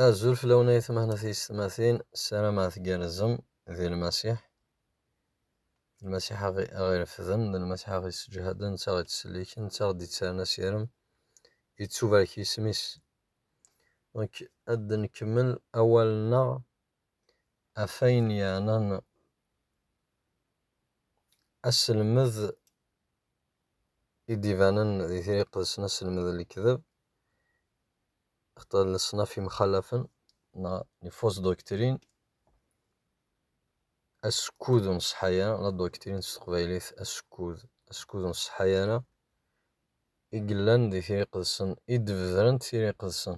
Azul fell-awen ay atmaten tiyessetmatin, ssarameɣ tgerrzem di Lmasiḥ, Lmasiḥ a ɣ-irefden, d Lmasiḥ a ɣ-isseǧhaden, netta a ɣ-ittselliken, netta a ɣ-d-ittarren asirem, yettubarek yisem-is. Nekk ad d-nkemmel awal-nneɣ. ɣef wayen yeɛnan aselmed i d-ibanen di Tira Iqedsen, aselmed n lekdeb, xaṭer leṣnaf yemxalafen neɣ les fausses doctrines, asekkud ur nṣeḥḥa ara, la doctrine s teqbaylit, asekkud, asekkud ur nṣeḥḥa ara, i yellan di Tira Iqedsen, i d-bedrent Tira Iqedsen.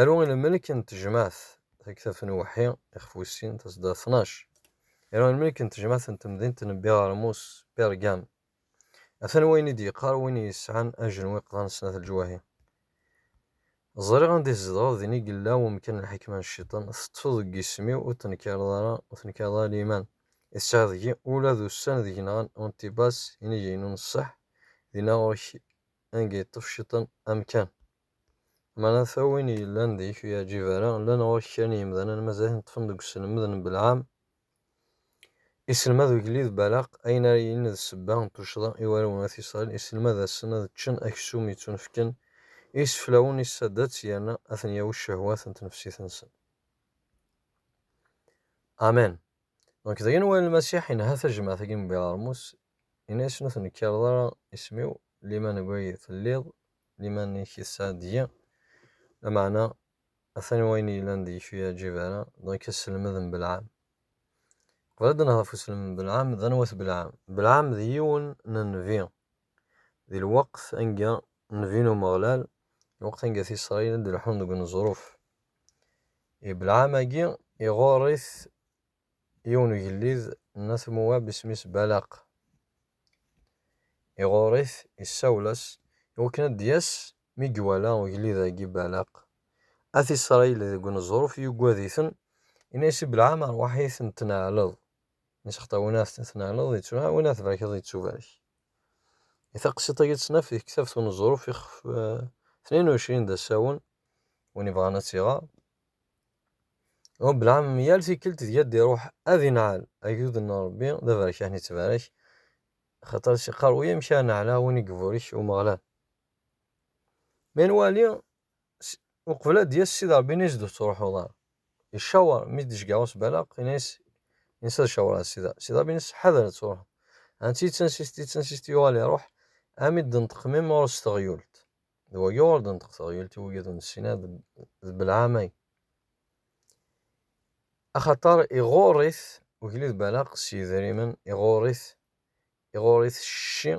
Aru i lmelk n tejmaɛt taktabt n uweḥḥi ixef wis sin, tasedda tnac. Aru i lmelk n tejmaɛt n temdint n Biɣermus, Pergam. Atan wayen i d-yeqqar win yesɛan ajenwiq d aneṣnat leǧwahi. Ẓriɣ anda i tzedɣeḍ, din i yella wemkan n lḥekma n cciṭan, teṭṭfeḍ deg yisem-iw ur tenkareḍ ara, ur tenkareḍ ara liman i tesɛiḍ deg-i, ula d ussan deg yenɣan Antibas, inig-inu n ṣṣeḥ, dinna ɣur-k anga yeṭṭef cciṭan amkan. Meɛna ata win yellan deg-k ur yeɛǧib ara, llan ɣur-k kra n yemdanen mazal neṭṭfen deg uselmed n Belɛam, iselmad ugellid Balaq ayen ara yilin d ssebba n tuccḍa i warraw n At Isṛail, iselmad-asen ad ččen aksum yettunefken i yiseflawen n isaddat yerna ad ten-yawi ccehwat n tnefsit-nsen. Amen. Donc, d ayen wala Lmasiḥ inha tajmaɛt-agi n Bilarmus, Ini-asen ur tennekkareḍ ara isem-iw, liman deg wayed telliḍ, liman-ik yesɛa deg-i lameɛna, atan wayen yellan deg-k ur yi-ɛǧib ara, dɣa akka sselmed n Belɛam. Qbel ad d-nehder ɣef uselmed n Belɛam, d anwa-t Belɛam? Belɛam d yiwen n nnbi di lweqt anga nnbi n Umeɣlal, lweqt anga At Isṛayil ad d-leḥḥun deg uneẓruf. I Belɛam-agi iɣurr-it Yiwen ugellid n At Muwab isem-is Balaq, iɣurr-it, isawel-as, iwakken ad d-yas, mi iwala ugellid-agi Balaq, At Isṛayil deg uneẓruf, yuggad-iten, yenna-yas i Belɛam, Rrwaḥ-it n tneɛleḍ, isexṭa win ad t-tneɛleḍ ittuneɛɛel, win ad t-tbarkeḍ ittubarek. I taqsiṭ-agi ad tt-naf deg ktabt uneẓruf ixef tnin u εecrin d asawen, win ibɣan ad tt-iɣer. Ṛebbi lɛam yal tikkelt deg ad d-iṛuḥ ad inɛel agdud n Ṛebbi, d aberek ad nettbarak, axaṭer iqqar uyamek ad neɛla win i iburek Umeɣlal. Mi nwali uqbel ad d-yas Sidi Ṛebbi ini-as d ur tettṛuḥuḍ ara. Icaweṛ, mi d-tecgeɛ usbalaq ini-as ini-as ad caweṛeɣ Sidi Ṛebbi. Sidi Ṛebbi ini-as ḥader ad truḥeḍ. Ansi d tansizt, d tansizt yuɣal iṛuḥ, armi d-tenṭeq mmi-m ɣur-s teɣyult. d wa yuɣalden teqteɣyult i wigad ur nessin ara d belɛamay axaṭer iɣurr-it ugellid Balaq s yedrimen iɣurr-it iɣurr-it cci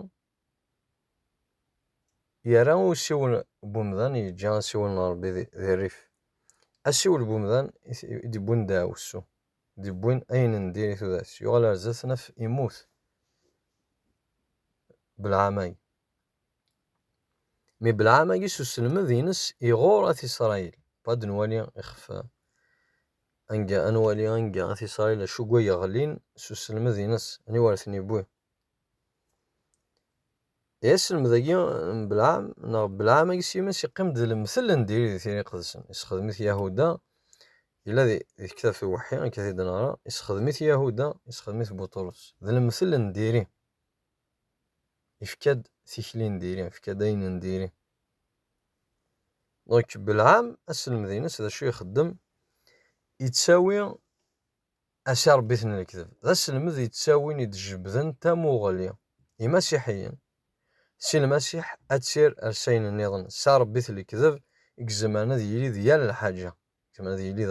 yerra i usiwel n umdan yeǧǧa asiwel n Ṛebbi di rrif asiwel n umdan i d-iwwin ddaɛwessu i d-iwwin ayen n diri tudert yuɣal ar zdat naf immut belɛamay Mi Belɛam agi s uselmed-ines iɣur At Isṛayil, ad nwali ixef anga, ad nwali anga At Isṛayil acu gwa yeɣlin s uselmed-ines, aniwa ara ten-iwwi. I aselmed-agi n Belɛam, neɣ Belɛam agi s yiman-is yeqqim-d d lemtel n diri di tira iqedsen, isexdem-it Yahuda, yella di tektabt n Uweḥḥi, akka i t-id-neɣra, isexdem-it Yahuda, isexdem-it Buṭrus, d lemtel n diri. Yefka-d tikli n diri, yefka-d ayen n diri. Donc, Belɛam, aselmed-ines, d acu ixeddem? Yettawi asirebit n lekdeb. D aselmed yettawin, id-jebden tamuɣli, imasiḥiyen, si lmasiḥ ad tir ar sayen nniḍen, s arebit n lekdeb, i yezemren ad yili d yal lḥaǧa. Yezmer ad yili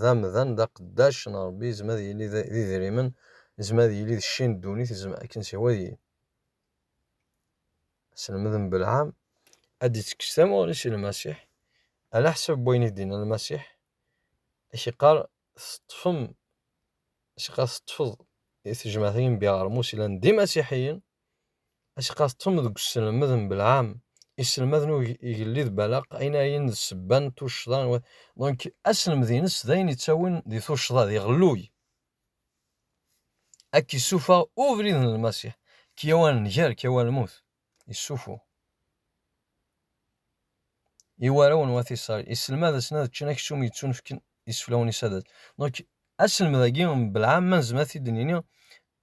d amdan, d aqeddac n Ṛebbi, yezmer ad yili d idrimen, yezmer ad yili d cci n ddunit, akken s ihwa deg-i. Aselmed n Belɛam, ad d-ittekkes tamuɣli si Lmasiḥ, ɛlaḥsab n wayen i d-yenna Lmasiḥ, ad ak-iqqar, Teṭṭfem, as-iqqar, teṭṭfeḍ i tejmaɛt n yimbiɣermus yellan d imasiḥiyen, Acqa teṭṭfem deg uselmed n Belɛam, iselmaden ur igellid Balaq, ayen ara yinin d ssebba n tuccḍa n wat. Donc, aselmed-ines d ayen ittawin di tuccḍa, di ɣelluy. A k-issuffeɣ ubrid n Lmasiḥ, k-yawi ar nnger, k-yawi ar lmut. Issufuɣ. I warraw n wat Isṛail, iselmad-asen ad ččen aksum yettunefken iseflawen-is ad. Donc, aselmed-agi n Belɛam, ma nezmer ad t-id-nini,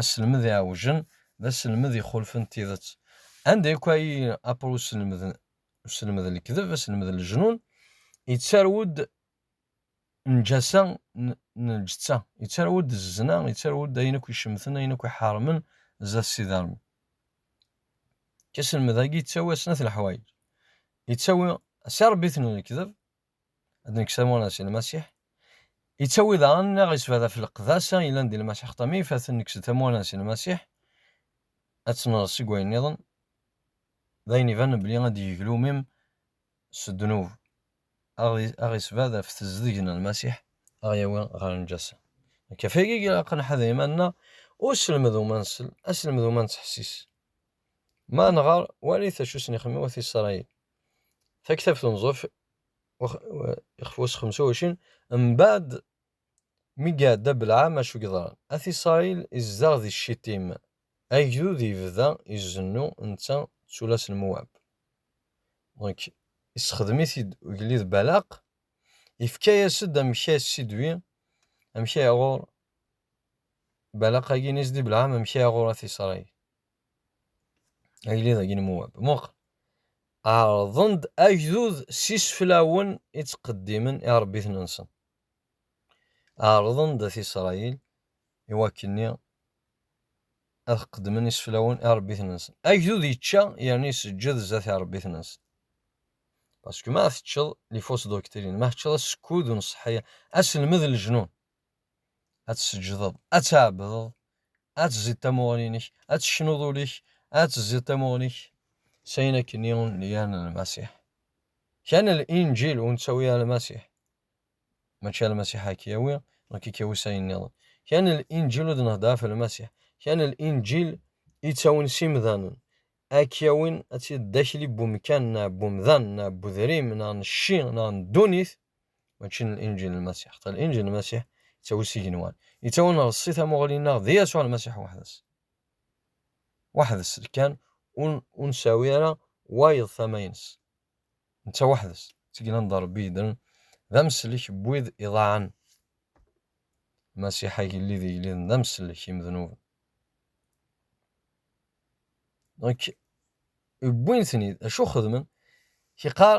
Aselmed iɛewjen d aselmed ixulfen tidet. Anda akk ay apr uselmed uselmed n lekdeb, aselmed n lejnun, yettarew-d njasa n lǧetta, yettarew-d zzna, yettarew-d ayen akk icemten, ayen akk iḥermen zdat Sidi Ṛebbi. Aselmed-agi yettawi-asen-at leḥwayeǧ. Yettawi, si Ṛebbi-ten lekdeb, ad nekk samunas i Lmasiḥ. Yettawi daɣen neɣ yesbad ɣef leqdasa yellan di Lmasiḥ xeṭṭam i ifaten nekk s tamunas i Lmasiḥ, ad tenɣeḍ seg wayen nniḍen, d ayen ibanen belli ad d-yeglu umim s ddnub, aɣ isbad ɣef tezdeg n Lmasiḥ, aɣ yawi ɣer lǧassa. Nekk ɣef wagi ilaq ad nḥader iman nneɣ, ur selmed u ma nsel, aselmed u ma nettḥessis. Ma neɣer, walit acu sen ixemmim wat Isṛayil. taktabt unẓef ixef wass xemsa wacin mbaɛd mi iɛedda belɛam acu yeḍran at isṛayil izdeɣ di cciṭim agdud yebda izennu netta d tullas n muwab donc issexdem-it-id ugellid balaq ifka-yas-d amek ay sidwi amek ay ɣur balaq-agi n isdi belɛam amek ay ɣur at isṛayil Agellid agi n Muwab. Muqel. Ɛerḍen-d agdud s iseflawen i ttqeddimen iṛebbiten-nsen. Ɛerḍen-d at Isṛayil i wakkenni ad qeddmen iseflawen iṛebbiten-nsen. Agdud yečča yerna iseǧǧed zdat iṛebbiten-nsen. Parce que ma teččeḍ les fausses doctrines, ma teččeḍ asekkud ur nṣeḥḥi, aselmed n leǧnun, ad tseǧǧdeḍ, ad tɛebdeḍ, ad tezziḍ tamuɣli-nnek, ad tecnuḍ ul-ik, ad tezziḍ tamuɣli-k, s ayen akken i wen-nniɣen Lmasiḥ. Kan Linǧil ur nettawi ara Lmasiḥ. Mačči Lmasiḥ ara k-yawi, nekk i k-yawi s ayen nniḍen. Kan Linǧil ur d-nehder ɣef Lmasiḥ. Kan Linǧil i ttawin s imdanen, ad k-yawin ad tiliḍ d akli n wemkan neɣ n umdan neɣ n udrim neɣ n cci neɣ n ddunit, mačči n Inǧil n Lmasiḥ. Ṭel Inǧil n Lmasiḥ yettawi s igenwan. Yettawi nreṣṣi tamuɣli-nneɣ d Yasuɛ Lmasiḥ weḥd-s. Weḥd-s kan ur nsawi ara wayeḍ tama-ines. Netta weḥd-s, d tigla n Rebbi yeddren, d amsellek n wid iḍaɛen. Lmasiḥ agellid igelliden d amsellek imednuben. Donc, wwin-ten-id, acu xedmen? Kiqar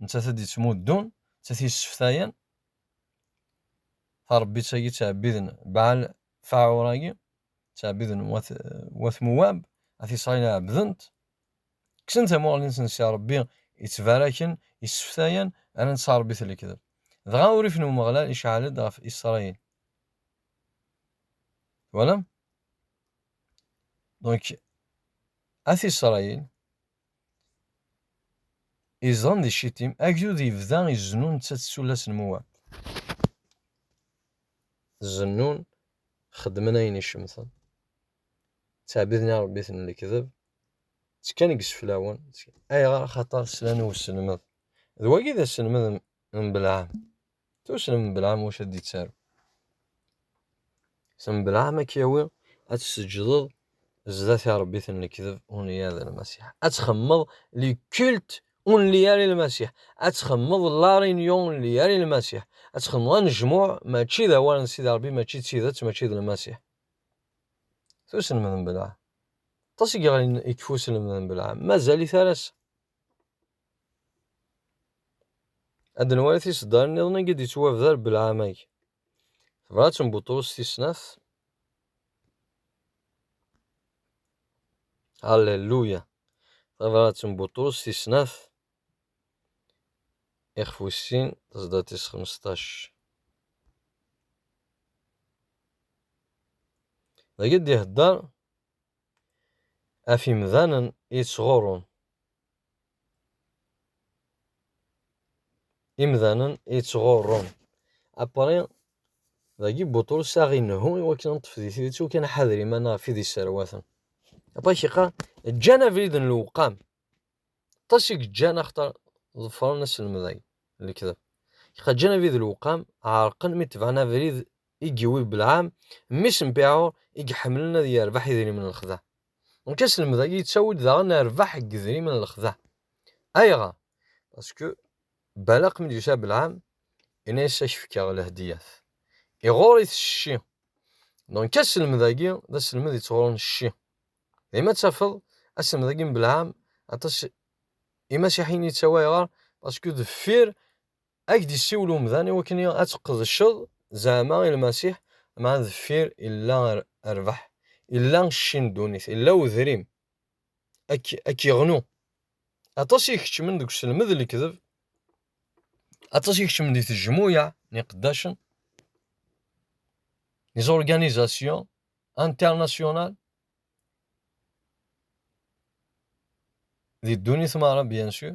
Nettat i d-yettmuddun, nettat i yesseftayen tarebbit-agi ttɛebbiden Baal Faɛur-agi, ttɛebbiden wat wat Muwab, at Isṛayil ɛebbden-t, kksen tamuɣli-nsen si Ṛebbi, ittbaraken, isseftayen, rran-tt tarebbit n lekdeb. Dɣa urrif n Umeɣlal iceɛɛel-d ɣef Isṛayil. Twalam? Donc, at Isṛayil. Izedɣen di Ccitim, agdud yebda izennu nettat d tullas n Mowab. Zennun, xeddmen ayen icemten, ttɛebbiden irebbiten n lekdeb, ttekkan deg yiseflawen. Ayɣer? Axaṭer slan i uselmed. D wagi i d aselmed n Belɛam. Tussem mebla am wacu ad d-yettaru. Tussem mebla am ad k-yawi ad tseǧǧdeḍ zdat i Rebbi-t n lekdeb, ur nli ara d Lmasiḥ. Ad txemmeḍ le culte ur nli ara i Lmasiḥ. Ad txemmeḍ la réunion ur nli ara i Lmasiḥ. Ad txemmeḍ anejmuɛ mačči d awal n Sidi Rebbi, mačči d tidet, mačči d Lmasiḥ. Tussem mebla. Aṭas i yeɣlin ikef uselmed mebla, mazal-it ar ass. Ad nwali tiseddarin niḍen i d-yettwabder belɛamag. Tebrat n Buṭrus tis snat. Halleluya! Tabrat n Buṭrus tis snat. Ixef wis sin, tasedda tis xmesṭac. Dagi d-ihedder af imdanen yettɣurrun. Imdanen yettɣurrun apri dagi Buṭrus ad aɣ-inehhu i wakken ad neṭṭef di tidet u kan ḥader iman ɣef id yesserwaten. Aṭak iqqar, ǧǧan abrid n lewqam. Aṭas i yeǧǧan axaṭer ḍefren aselmed agi n lekdeb. Iqa ǧǧan abrid n lewqam, ɛerqen mi tebɛen abrid i yewwi Belɛam, mmi-s n Piɛur, i iḥemmlen ad yerbeḥ idrimen n lexdeɛ. Donc aselmed agi yettawi-d daɣen rrbeḥ deg yedrimen n lexdeɛ. Ayɣer? Parce que Balaq mi d-yusa Belɛam yenna-yas ad k-fkeɣ lehdiyat. Iɣur-it cci. Donc aselmed agi d aselmed yettɣuren cci. Dima ttafeḍ aselmed agi n Belɛam aṭas imasiḥiyen yettawi ayɣer? Parce que deffir Ad ak-d-issiwel umdan i wakken ad tqedceḍ zeɛma i Lmasiḥ, meɛna deffir illa rrbeḥ, illa cci n ddunit, illa wedrim. Ad k-iɣnu. Aṭas i ikeččmen deg uselmed n lekdeb, aṭas i ikeččmen di tejmuyaɛ n iqeddacen, les organisations internationales, di ddunit meṛṛa bien sûr.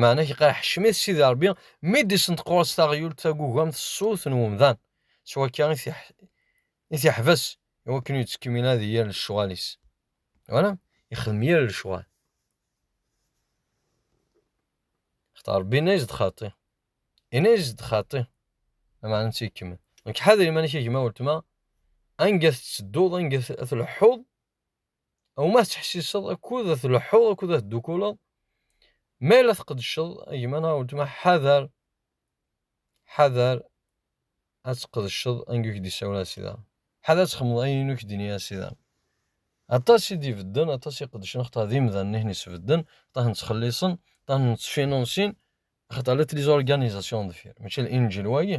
Meɛna i qqar ḥecmet Sidi Ṛebbi mi d-isenṭequr-as taɣyult tagugamt s ṣṣut n umdan, s wakka i t-iḥbes i wakken ur yettkemmil ara di yir lecɣal-is. Wala, ixdem yir lecɣal. Xaṭer Ṛebbi yenna-as-d xaṭi. Yenna-as-d xaṭi. Meɛna netta ikemmel. Nekk ḥader iman-ik a gma weltma, anga tettedduḍ, anga tleḥḥuḍ, Awma tettḥessiseḍ akud ad tleḥḥuḍ akud ad teddukuleḍ, ma la tqeddceḍ a gma neɣ a weltma ḥader, ḥader ad tqeddceḍ angu k d-isawel asida, ḥader ad txemmeḍ ayen uk d-ini asida. Aṭas i d-ibedden, aṭas i qeddcen, xaṭer d imdanen i ten-isbedden, xaṭer ten-ttxelliṣen, xaṭer ten-ttfinunsin, xaṭer la tliz organisation deffir, mačči d inǧil wagi.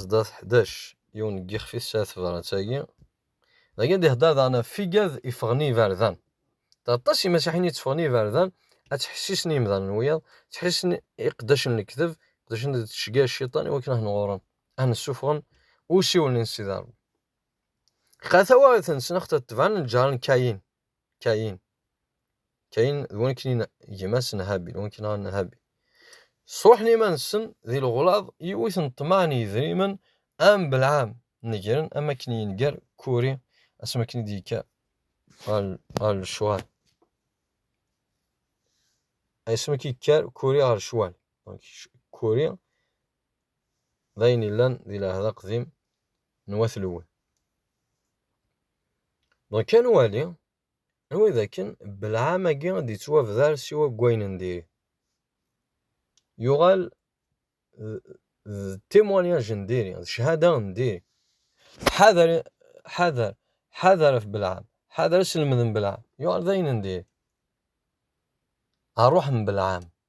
Sdat ḥdac, yiwen n yixef i tesɛa tebṛat-agi. Dagi ad d-iheddeṛ daɣen ɣef figad yeffɣen i yiberdan. Aṭas n yimasiḥiyen i tteffɣen i yiberdan ad ttḥessisen i yimdanen n wiyaḍ, ttḥessisen i iqeddacen n lekdeb, iqeddacen d tcegga n cciṭan i wakken ad ten-ɣurren, ad ten-ssufɣen i usiwel n Sidi Ṛebbi. Lqan tawaɣit-nsen axaṭer tebɛen lǧehṛ n Kayin. Kayin. Kayin d wakken gma-s n Habil, wakken n Habil. Sruḥen iman-nsen di leɣlaḍ yiwet n ṭṭmaɛ n yedrimen am Belɛam negren am akken yenger Kuri asmi akken i d-yekka ɣer lecɣal. Asmi akken yekker Kuri ɣer lecɣal. Kuri d ayen yellan di lɛehd aqdim n Wat Lewwi. Donc ad nwali anwa dakken belɛam-agi ad d-yettwabder siwa deg wayen n diri. Yuɣal d témoignage n diri, d cchada n diri. Ḥader, ḥader, ḥader af belɛam, ḥader aselmed n belɛam, yuɣal d ayen n diri. Ṛṛuḥ n belɛam.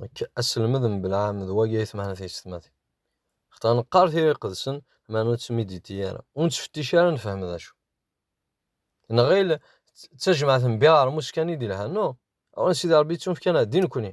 Nekk aselmed mebla am d wagi ay tmehna tiyessetmatin. Xaṭer neqqar tira iqedsen, meɛna ur tt-miditi ara, ur nettfettic ara ad nefhem d acu. Nɣil d tajmaɛt n Biɣermus kan i d-ilhan, no, awen Sidi Ṛebbi yettunefk-aneɣ-d i nekkni.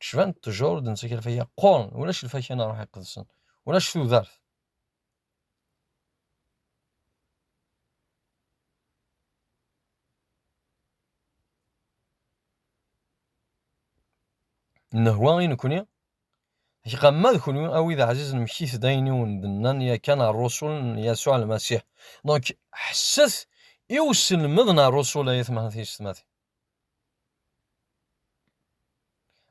Kecban ṭṭjur ur d-nettaki lfakya qquren, ulac lfakya n ṛṛuḥ iqedsen, ulac tudert. Nnehwa i nekni, Iqamma d kunwi a wid ɛzizen mkit-d ayen i wen-d-nnan yakan ṛṛusul n Yasuɛ Lmasiḥ. Donc, ḥesset i uselmed n ṛṛusul ay atmaten tiyessetmatin.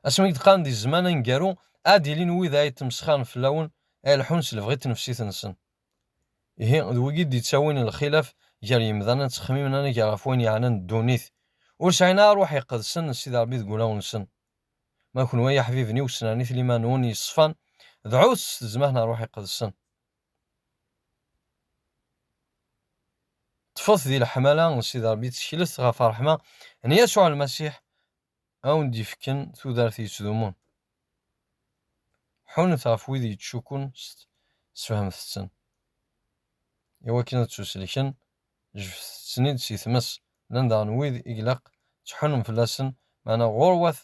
Asmi i d-qqaren di zzman aneggaru, ad d-ilin wid ara yettmesxaren fell-awen, ad ileḥḥun s lebɣi n tnefsit-nsen. Ihi, d wigi i d-yettawin lxilaf gar yemdanen, ttexmimen anagar ɣef wayen yeɛnan ddunit, ur sɛin ara ṛṛuḥ iqedsen n Sidi Ṛebbi deg wulawen-nsen. Ma kenwi ay iḥbiben-iw, ssnernet liman-nwen yeṣfan, dɛut s tezmah n ṛṛuḥ iqedsen. ṭṭfet di leḥmala n Sidi Ṛebbi, tteklet ɣef ṛṛeḥma n Yasuɛ Lmasiḥ, a wen-d-yefken tudert yettdumun. Ḥunnet ɣef wid yettcukkun, sfehmet-ten. I wakken ad ttuselken, jebdet-ten-id si tmes. Llan daɣen wid i ilaq ad tḥunnum fell-asen, meɛna ɣur-wat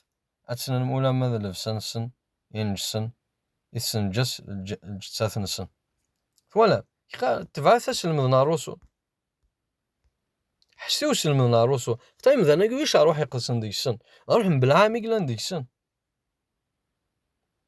ad tennum ulamma d llebsa-nsen ineǧsen i tessenǧes lǧettat-nsen. Twalam? Kra tebɛet aselmed n Ṛṛusu. Ḥesset i uselmed n Ṛṛusu. Xaṭer imdanen-agi ulac ṛṛuḥ iqedsen deg-sen. D ṛṛuḥ n Belɛam i yellan deg-sen.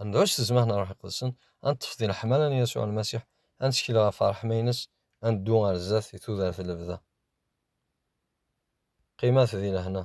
ad nɛuc s zzman n Ṛṛuḥ Iqedsen, ad neṭṭef di leḥmala n Yasuɛ Lmasiḥ, ad nettkel ɣef ṛṛeḥma-ines, ad neddu ɣer zdat di tudert n lebda. Qqimet di lehna.